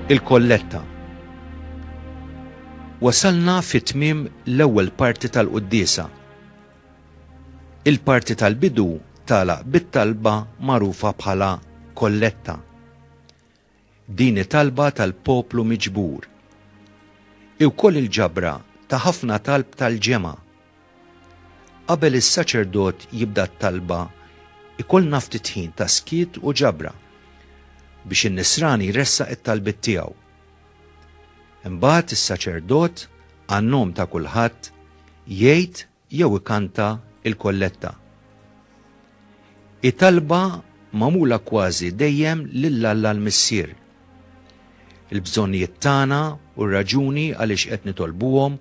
il-kolletta. Wasalna fit-tmim l-ewwel parti tal-quddisa. Il-parti tal-bidu tala bit-talba magħrufa bħala kolletta. Din hi talba tal-poplu miġbur. Hi wkoll il-ġabra ta' ħafna talb tal-ġemgħa. Qabel is-saċerdot jibda t-talba jkollna ftit ħin ta' skiet u ġabra biex in-nisrani jressaq it-talbiet tiegħu. Imbagħad is-saċerdot, għan-nom ta' kulħadd, jgħid jew ikanta l-kolletta. Hi talba magħmula kważi dejjem lil Alla l-Missier. Il-bżonnijiet tagħna u r-raġuni għaliex qed nitolbuhom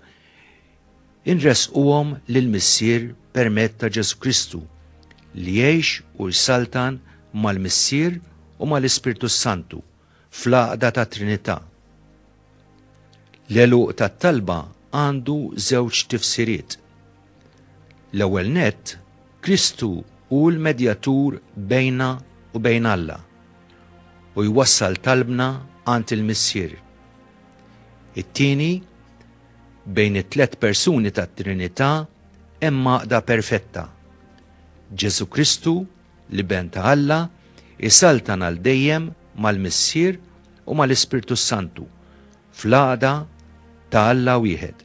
inressquhom lill-Missier permezz ta' Ġesù Kristu li jgħix u jsaltan mal-Missier u mal-Ispirtu s-Santu. fl-għaqda tat-Trinità. L-għeluq tat-talba għandu żewġ tifsiriet. L-ewwel nett, Kristu hu l-medjatur bejna u bejn Alla u jwassal talbna għand il-Missier. It-tieni, bejn it-tliet persuni tat-Trinità hemm għaqda perfetta. Ġesù Kristu L-Iben ta' Alla jsaltan għal dejjem mal-Missier u mal-Ispirtu s-Santu, fl-għaqda ta' Alla wieħed.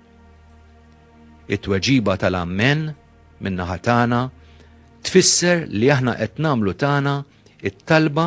It-tweġiba tal-Ammen, min-naħa tagħna, tfisser li aħna qed nagħmlu tagħna t-talba